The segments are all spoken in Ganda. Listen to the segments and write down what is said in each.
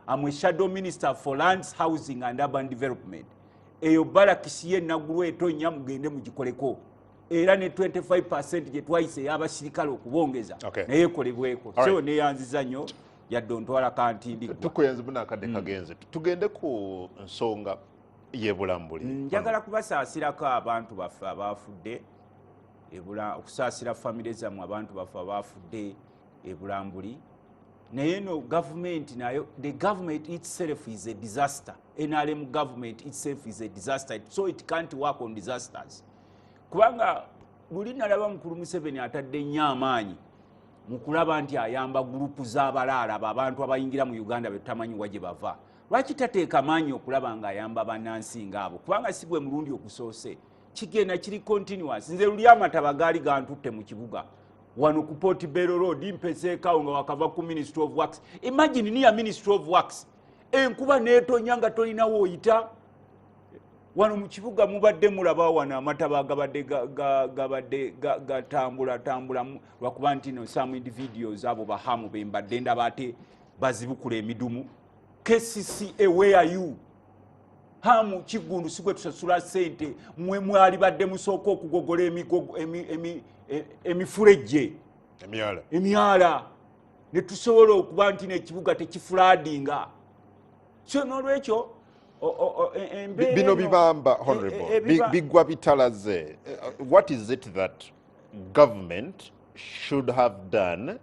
am a shadow minister for lands housing and urban development eyo balakisi ye nagulu etonya mugende mugikoleko era ne 25 percent gye twayise eyabasirikale okubongeza okay. naye ekolebweko right. so neyanziza nyo yadde ontwala kantindigtukuyenzi bunakadde mm. kagenze mm. tugende ku nsonga yebulambuli mm, njagala kubasaasirako abantu baffe abaafudde okusaasira famire zammwe abantu baffe abaafudde ebulambuli naye no gavumenti nayo the government itself is a disaster nrm government itself is a disaster so it can't work on disasters kubanga luli nalaba mukulu museveni atadde nnyo amaanyi mu kulaba nti ayamba gurupu z'abalaala babantu abayingira mu uganda betutamanyi wa gye bava lwaki tateeka maanyi okulaba ng'ayamba banansi ngaabo kubanga si gwe mulundi okusoose kigenda kiri continuous nze luli amataba gaali gantutte mu kibuga wano ku port bero road mpeseekawo nga wakava ku ministry of works imagine niya ministry of works enkuba netonya nga tolinawo oyita wano mu kibuga mubadde mulaba wano amataba gabadde gabadde gatambula tambula lwakuba nti no some individuals abo bahamu bembadde ndaba ate bazibukula emidumu kcca where you hamu kiggundu si gwe tusasula sente mwe mwalibadde musooka okugogola e, emifulejje emyala ne tusobola okuba nti nekibuga tekifuladinga so nolwekyo e, bino bibamba e, honorable biggwa bitalaze uh, what is it that government should have done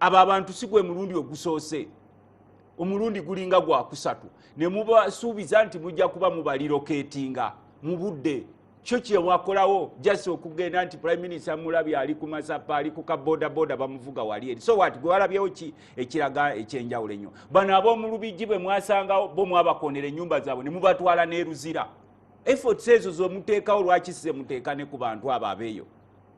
abo abantu si gwe mulundi ogusoose omulundi gulinga gwakusatu ne mubasuubiza nti mujja kuba mubaliroketinga mu budde kyo kyewakolawo jasi okugenda nti prime minister mulabi ali ku masapa ali ku kabodaboda bamuvuga wali eri so wat gwewalabyewo ki ekiraga ekyenjawulo ennyo bano ab'omulubijji bwe mwasangawo bo mwabakonera ennyumba zaabwe ne mubatwala n'eruzira efforts ezo zomuteekawo lwaki sizemuteeka ne ku bantu abo abeeyo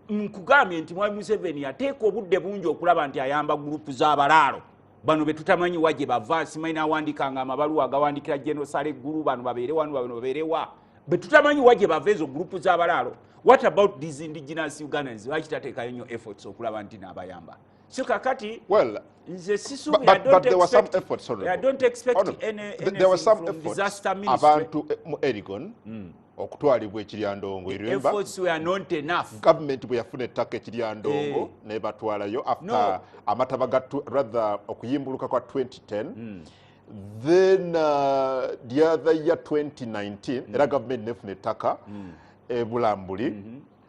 nkugambye nti mwami museveni yateeka obudde bungi okulaba nti ayamba gurupu z'abalaalo bano betutamanyi wa gye bava nsimanyi nawandikanga amabaluwa agawandikira genosale eggulu bano babeere wano bano babeerewa betutamanyi wa gye bava ezo gurupu z'abalaalo what about these indigenous ugandans lwaki tateekayo nnyo efforts okulaba nti naabayamba so kakati well nze sisubi but, but, but there were some efforts sorry i don't expect oh, no. any, any there were some efforts disaster ministry abantu eh, mu erigon mm. okutwalibwa ekiryandongo eremba gavumenti bwe yafuna ettaka ekiryandongo eh. nebatwalayo after amataba ga rather okuyimbuluka kwa 2010 mm. then uh, the other year 2019 mm. era gavumenti nefuna ettaka mm. ebulambuli mm -hmm.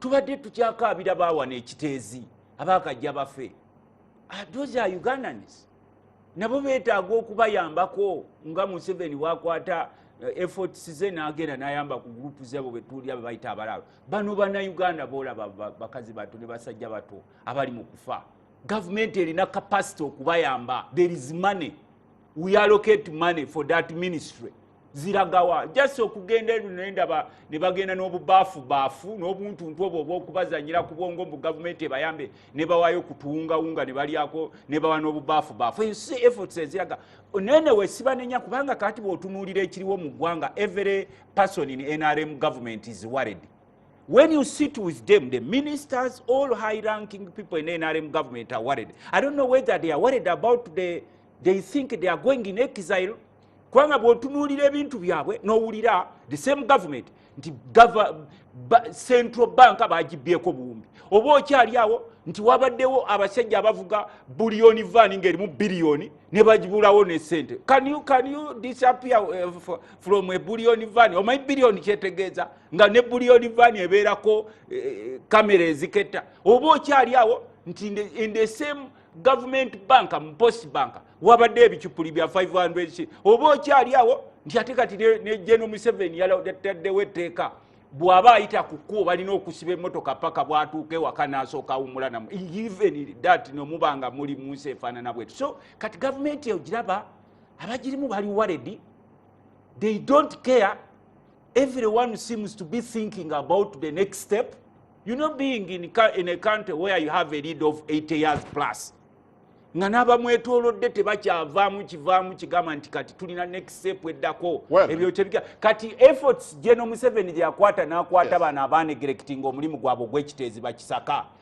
tubadde tukyakaabira baawana ekiteezi abakajja bafe ah, those are ugandans nabo betaaga okubayambako nga museveni wakwata eh, efforts ze nagenda nayamba ku gurupu zebo betuulira bebayita abalaalo bano banauganda boolaba bakazi bato ne basajja bato abali mu kufa gavumenti erina capacity okubayamba there is money we allocate money for that ministry ziragawa just okugenda eno nendaba ne bagenda n'obubaafu baafu n'obuntuntu obwo obwokubazanyira ku bwongo mbu gavumenti ebayambe ne bawaayo kutuwungawunga ne balyako ne bawa n'obubaafu baafu eyo si efforts eziraga nene wesibanenya kubanga kati bwotunuulira ekiriwo mu ggwanga every person in nrm government is worried when you sit with them the ministers all high ranking people in nrm government are worried i don't know whether they are worried about the they think they are going in exile kubanga bwotunuulira ebintu byabwe nowulira the same government nti central bank bagibyeko buwumbi oba okyali awo nti wabaddewo abasajja abavuga buliyoni vaani ngaerimu biliyoni ne bagibulawo nesente can you, can you disappear uh, from a buliyoni vaani omanyi biliyoni kyetegeeza nga ne buliyoni vaani ebeerako kamera eh, eziketta oba okyali awo nti in the same government bank mpost bank wabadde ebicupuli bya 500 oba okyali awo nti ate kati ne geno museven yataddewo etteeka bw'aba ayita ku kkubo balina okusiba emmotoka paka bwatuuka ewaka n'asooka awumulanamu even dat nomuba nga muli mu nsi efaanana bwetu so kati gavumenti eyo giraba abagirimu bali waledi they don't care everyone seems to be thinking about the next step you know being in, in a country where you have a lead of 80 years plus nga n'abamwetolodde tebakyavaamu kivaamu kigamba nti kati tulina nexep eddako ebyokyebika kati efforts geno museveni gyeyakwata n'akwata bano abanegerekitinga omulimu gwabwe ogwekiteezi bakisaka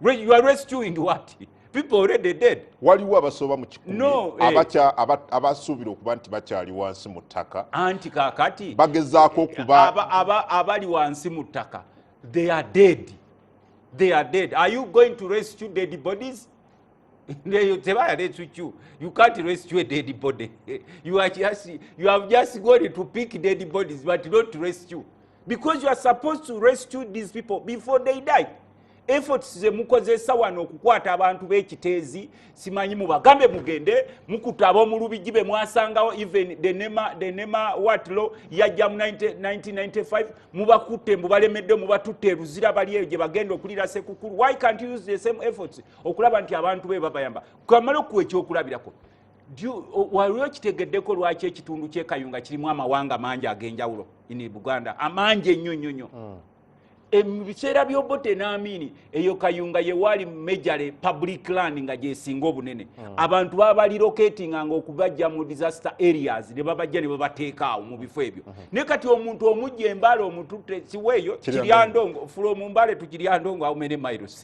you are rescuing what people already dead waliwo abasooba mu kikumi no, eh. abacha abasuubira okuba nti bakyali wansi mu ttaka anti kakati bagezaako okuba aba, aba, abali wansi mu ttaka they are dead they are dead are you going to rescue dead bodies ndeyo tebaya lecucu you can't rescue a dead body you are just you have just gone to pick dead bodies but not to rescue because you are supposed to rescue these people before they die efforts zemukozesa wano okukwata abantu b'ekiteezi simanyi mubagambe mugende mukuta ab'omulubigi be mwasangawo even denema denema watlo yajja mu 1995 mubakutte mubalemedde mubatutte eruzira bali eyo gye bagenda okulira sekukulu why can't use the same efforts okulaba nti abantu be babayamba kamala okuwa ekyokulabirako waliwo kitegeddeko lwaki ekitundu kyekayunga kirimu amawanga mangi ag'enjawulo ini buganda amangi ennyo nnyo nnyo hmm. e, mu biseera byobote naamiini eyo kayunga yewaali mejale public land nga gyesinga obunene hmm. abantu babaliroketinga nga okubajja mu disaster areas ne babajja ne babateekaawo mu bifo ebyo hmm. naye kati omuntu omujja embaale omututte siweeyo kiryandongo fulo mu mbaale tukiryandongo aumene miles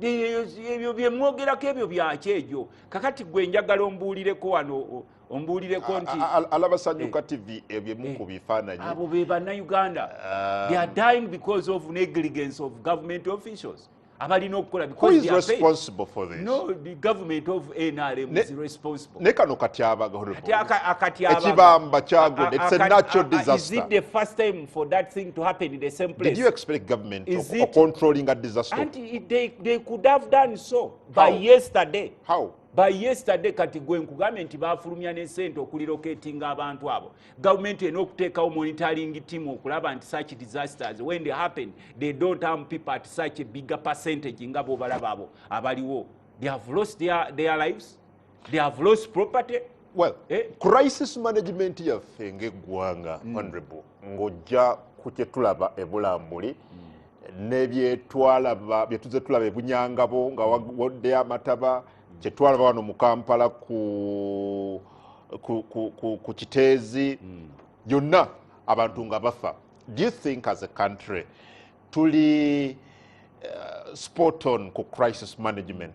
ebyo byemwogerako ebyo byaki egyo kakati gwe njagala ombuulireko wano ombuulireko nti alabasanyuka eh. tv ebyemuku eh. bifaananyi abo be bannayuganda um, they are dying because of negligence of government officials abalina okukola naye kano katyabaga ekibamba kyagocontrollinga disasteryesterday by yesterday kati gwe nkugambye nti bafulumya ne sente okuliroketinga abantu abo gavumenti ena okuteekawo monitoring team okulaba nti such disasters when they happen they don't harm people at such a bigger percentage nga bobalaba abo abaliwo they have lost their, their lives they have lost property well eh? crisis management yaffe ngaeggwanga mm. honorable ng'ojja ku kyetulaba ebulambuli mm. nebyetwalaba byetuze tulaba ebunyangabo nga wodde amataba mm. kyetwalaba wano mu kampala ku, ku, ku, ku, ku kiteezi mm. yonna mm. abantu nga bafa do you think as a country tuli uh, spot on ku crisis management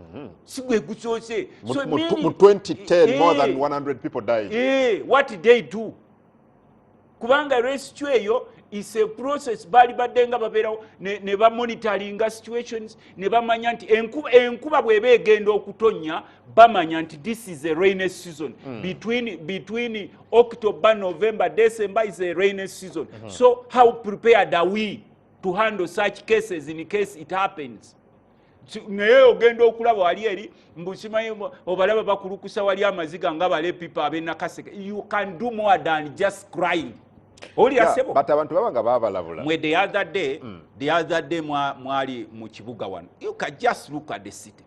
Mhm. si gwe gusoose mu 2010 more than 100 eh. people died eh, what did they do kubanga rescue eyo is a process baali badde nga babeerawo ne bamonitoringa situations ne bamanya nti enkuba bweba egenda okutonnya bamanya nti this is a rainy season mm. between, between october november december is a rainy season mm -hmm. so how prepared are we to handle such cases in case it happens naye ogenda okulaba wali eri mbusimaye obalaba bakulukusa wali amaziga nga bale pipa abenakaseke you can do more than just crying olirasebobut abantu baba nga babalabula mwe the other day mm. the other day mwali mu kibuga wano you can just look at the city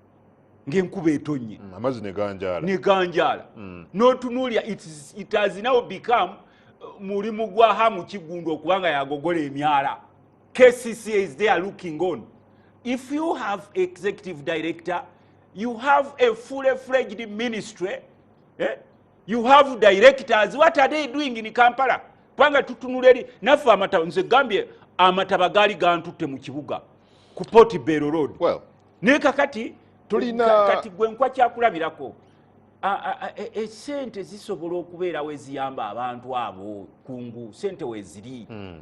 ngaenkuba etonye mm, amazi neganjala neganjala mm. notunulya it has now become uh, mulimu gwa hamu kigundwa okubanga yagogola emyala kcca is there looking on if you have executive director you have a fully fledged ministry eh? you have directors what are they doing in kampala kubanga tutunula eri naffe amataba nze gambye amataba gaali gantutte mu kibuga ku poti bero road well, naye kakati tulina kati gwe nkwa kyakulabirako esente e, zisobola okubeerawo eziyamba abantu abo kungu sente weziri hmm.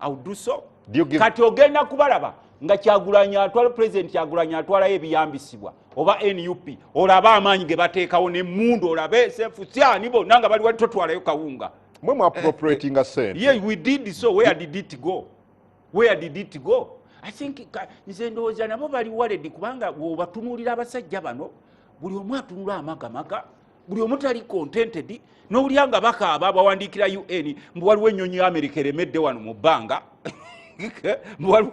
auduso kati ogenda kubalaba nga kyagulanya atwala president kyagulanya atwalayo ebiyambisibwa oba nup olabe amaanyi ge bateekawo nemundu olabe sefusyani bonna nga bali wali totwalayo kawunga mwe mwapropratinga eh, eh, sente ye we did so where did it go where did it go i think nze ndowooza nabo bali waledi kubanga wobatunulira abasajja bano buli omu atunula amagamaga buli omu tali contented nowulira nga bakaaba bawandiikira un mbu waliwo ennyonyi ya america eremedde wano mu bbanga mbu waliwo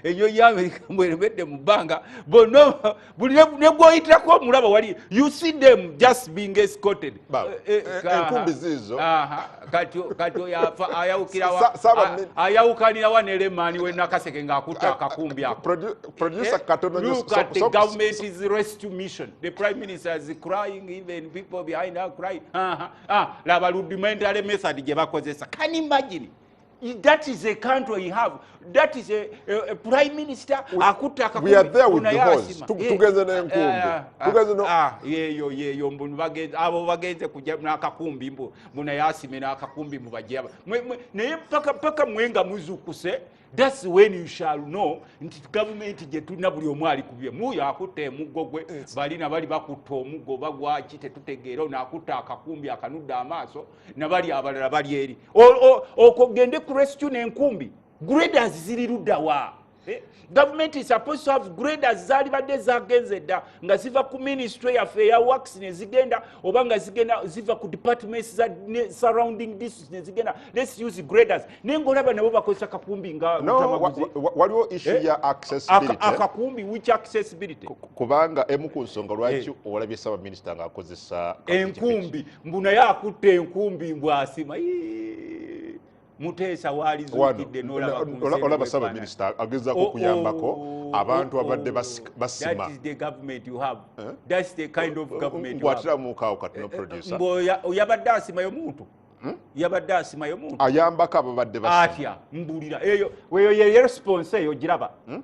ennyonyi ya america mbu eremedde mu bbanga bonna buli negwoyitirako omulaba wali you see them just being escorted enkumbi ziizo kati oyo afa ayawukanirawa ne lemaani we nakaseke ng'akutte akakumbi akoakat eh, government is rescue mission the prime minister is crying even people behind her crying laba rudimentary method gye bakozesa can imagine that is a country we have that is a, a, a prime minister akutte akakumbitugenze nenkumbi yeyo yeyo mbu abo bagenze kuja nakakumbi mbu muna yasime nakakumbi mbu bajaba naye paka paka mwenga muzukuse thats when you shall know nti gavumenti gyetulina buli omu ali kubye muyo akutte emuggo gwe balina bali bakutta omuggo bagwaki tetutegeera ono akutte akakumbi akanudde amaaso nabali abalala bali eri okwo gende ku rescue nenkumbi graders ziri luddawa eh, gavumenti suppose to have graders zalibadde zagenze dda nga ziva ku ministry yaffe eya wax nezigenda oba nga zigenda ziva ku departments za surrounding district nezigenda lets use graders naye ngaolaba nabo bakozesa kakumbi ngawaliwo issu eh, ya accessibilityakakumbi which accessibility kubanga emu ku nsonga lwaki eh. olabye ssabaminista ngaakozesa enkumbi mbu naye akutte enkumbi mbu asima muteesa walizukidde nolaba sabaminisita agezako oh, okuyambako oh, abantu oh, abadde basima oyabadde asimayo muntu hmm? yabadde asimayo muntu ayambako ababadde atya mbulira eyo weyo ye response eyo giraba hmm?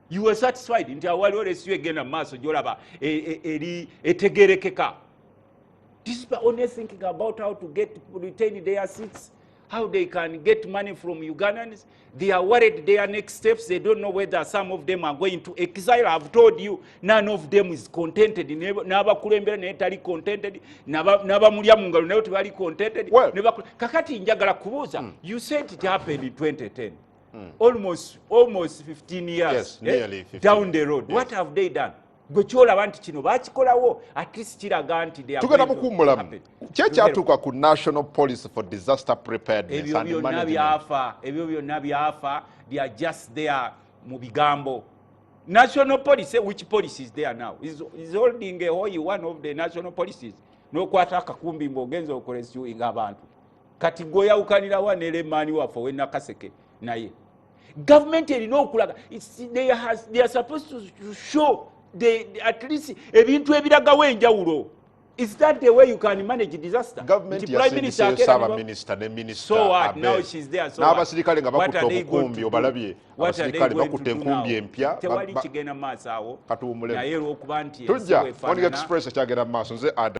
you were satisfied nti awaliwo lesiyo egenda mu maaso gyolaba e, e, eri etegerekeka these people only thinking about how to get retain their seats how they can get money from ugandans they are worried their next steps they don't know whether some of them are going to exile ihave told you none of them is contented n'abakulembera naye tali contented n'abamulya mu ngalo naye tebali contented kakati njagala kubuuza hmm. you said it happened in 2010 mm. almost almost 15 years yes, eh? 15. down the road yes. what have they done gwe kyolaba nti kino bakikolawo at least kiraga nti tugenda mukummulamu kyekyatuuka ku national policy for disaster preparednessebyo byonna byafa ebyo byonna byafa they are just there mu bigambo national policy eh, which policy is there now is, is holding a hoy one of the national policies nokwata akakumbi ngaogenza okolesuinga abantu kati gweoyawukanirawa ne lemaani waffe owenakaseke naye gavumenti erina okulaga at least ebintu ebiragawo enjawulo Is that the way you can manage disaster? Government Nti prime minister akera saba minister ne minister so what? Abe. Now she's there so n'abasirikale nga bakutte obukumbi obalabye abasirikale bakutte enkumbi empya tewali kigenda maaso awo katuwumulemu naye olwokuba nti tujja on express ekyagenda maaso nze ada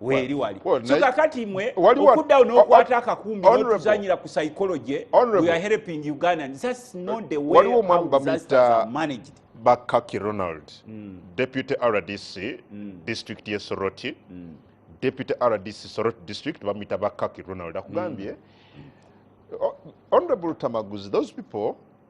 weeri wali so kakati mwe okuddawo n'okwata akakumbi notuzanyira ku psychology we are helping ugandans that's not the way how disasters are managed bakaki ronald mm. deputy rdc mm. district ye soroti mm. deputy rdc soroti district bamuyita bakaki ronald akugambye mm. honorable tamaguzi those people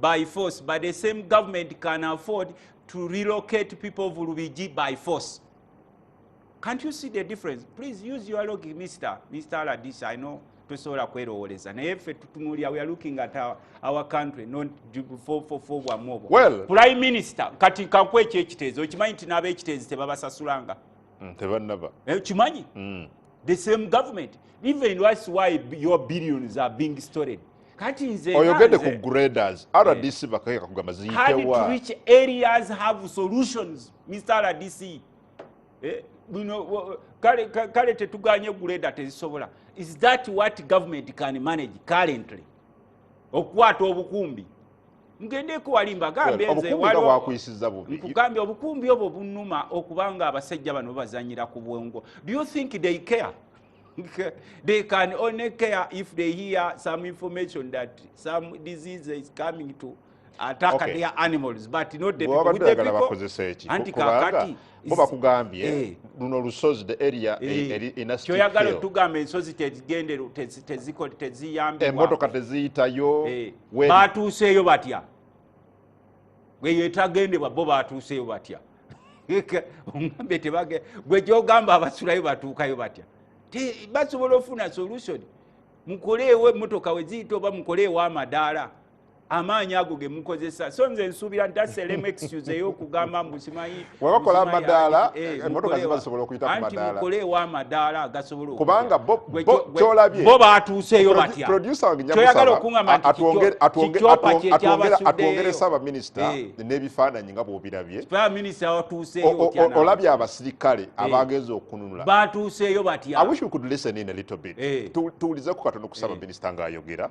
by force but the same government can afford to relocate people of lubigi by force can't you see the difference please use your logic mr mr aladis i know tosobola kwerowoleza naye ffe tutunulya weare looking at our, our country notfofofo bwamu obwo well, prime minister kati kanku ekyo ekiteezi okimanyi nti n'abaekiteezi tebabasasulanga mm, tebanaba eh, kimanyi mm. the same government even that's why your billions are being stored kati nze oyogede ku graders eh. rdc bakayeka kugamba ziyitewa which areas have solutions mr rdc eh, bino kale kale tetuganye gureda tezisobola is that what government can manage currently okukwata obukumbi ngendeko wali mbagambye nzewalnkugambye obukumbi obwo bunuma okubanga abasajja bano bazanyira ku bwongo do you think they care they can only care if they hear some information that some disease is coming to ataka okay. their animals but not the people with the people bakozesa eki anti kakati bo bakugambye eh. luno lusozi the area eh. Eh, eri in a state kyoyagala tugamba ensozi tezigende teziko teziyambe emotoka teziyitayo eh. batuuseeyo batya gweyo etagendebwa bo batuuseeyo batya ogambe tebage gwe gyogamba abasulayo batuukayo batya basobola ofuna solution mukoleewo emotoka weziyita oba mukoleewo amadaala amaanyi ago gemukozesa so nze nsuubira nti aselemu excuse eyokugamba mbu simanyi webakola amadaala eh, emotoka ziba zisobola okuyita kumadaala anti mukole ewa amadaala agasobola kubanga kyolabye bo baatuuseeyo batya producer wange nyakusaba okungamba nti kyopa kyekyabasuddeyo atwongere saba minister eh. n'ebifaananyi nga bwobirabye saba minister watuuseeyo olabye abasirikale eh. abagenza okununula baatuuseeyo batya i wish we could listen in a little bit tuwulizeko katono ku saba minister ng'ayogera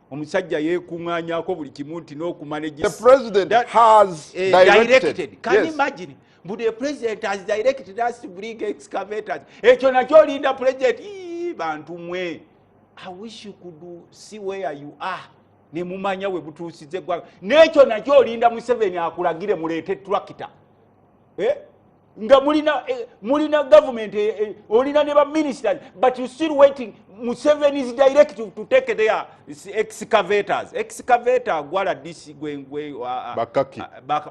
omusajja yekunganyako buli kimu nti nokumanejisdirectedcanimagine mbu the president has directed us to bring excavators ekyo nakyo olinda president bantu mwe i wish you could see where you are nemumanya we butuusiza eggwanga n'ekyo nakyo olinda museveni akulagire muleete tractor eh? nga mulina eh, mulina government eh, eh, olina ne baministers but you still waiting museven is direct to, to take their excavators excavetor gwala dc gwengwe bakaki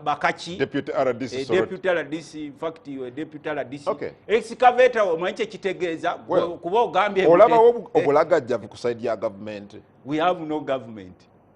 bakaki deputy rdc eh, deputy rdc in fact you deputy rdc okay. excavetor omanyi kye kitegeeza well, kuba ogambye olaba obulagajjavu ku side ya government we have no government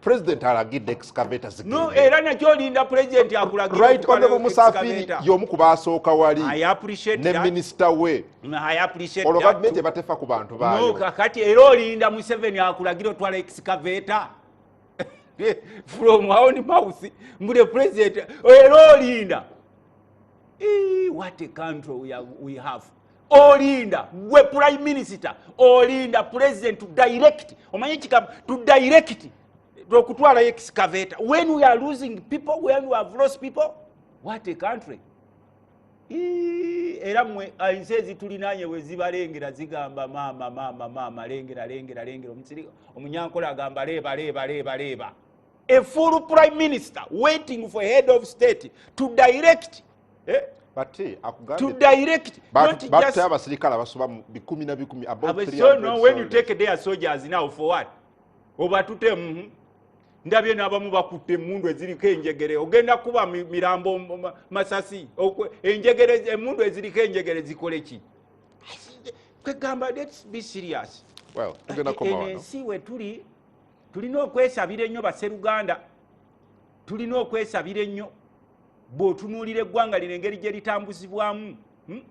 president alagidde excavator zigende era nakyo olinda president akulagire right honorable musafiri yomu kubasooka wali ne minister we olwo gavumenti ebatefa ku bantu baayo kakati era olinda museveni akulagire otwala excavator from aoni mouth mbude president era olinda what a country we have olinda gwe prime minister olinda president to direct omanye ekigambo to direct okutwalayo excavator when we are losing people when we have lost people what a country era mwe ensi ezitulinanye wezibalengera zigamba maama maama maama lengera lengera lengera omusiri omunyankole agamba leeba leeba leeba leeba a full prime minister waiting for head of state to direct eh? to direct but, not but just abasirikale abasoba bikumi na bikumi about 300 so no when you take their soldiers now for what obatute mhm ndabye nabamu bakutte emundu eziriko enjegere ogenda kuba mirambo masasi enjegere emundu eziriko enjegere zikole ki kwegamba let's be serious well tugenda komawo ensi wetuli tulina okwesabira ennyo baseruganda tulina okwesabira ennyo bw'otunuulira eggwanga lino engeri gye litambuzibwamu hmm?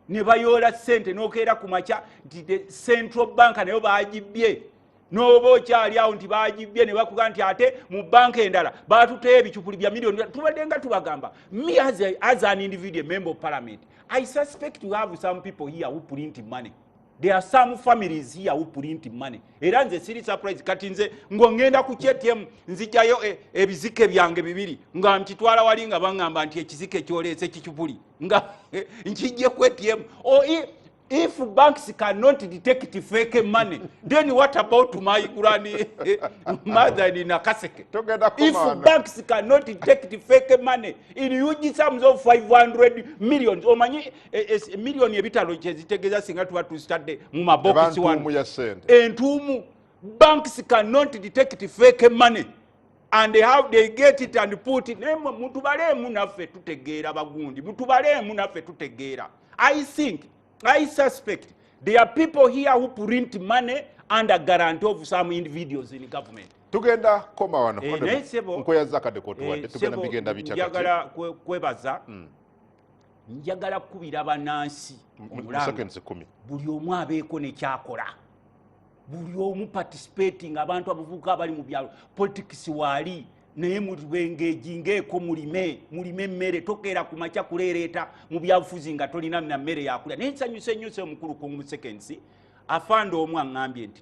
ne bayoola ssente n'okeera ku makya nti the central bank nayo baagibbye n'oba okyali awo nti baagibbye ne bakuga nti ate mu banka endala baatuteyo ebicupuli bya miliyoni tubadde nga tubagamba me as, as an individual member of parliament i suspect to have some people here who print money there are some families here who print money era nze siri surprise kati nze ngongenda ku kyetm nzijayo e, ebizike byange bibiri nga nkitwala wali nga bangamba nti ekizike kyoleese kikipuli nga nkijje ku atm o if banks cannot detect fake money then what about my granny mother in nakaseke if banks cannot detect fake money in huge sums of 500 millions omanyi E, e, e, miliyoni ebitalo kyezitegeeza singa tuba tuzitadde mu mabokisi wano entuumu banks cannot detect fake money and how they get it and put it naye mutubaleemu naffe tutegeera bagundi mutubaleemu naffe tutegeera i think i suspect there are people here who print money under guarantee of some individuals in government tugenda koma wano eh, nkweyazakadekotwadde eh, tugenda bigenda bityagala kwebaza mm. njagala kukubira banansi buli omu abeeko nekyakola buli omu participating abantu abavubuka abali mu byalo politics waali naye muliwengeji ngeeko mulime mulime emmere tokeera ku makya kuleereeta mu byabufuzi nga tolina na mmere yakulya naye nsanyuse nnyo se omukulu kungumusekensi afande omu aŋŋambye nti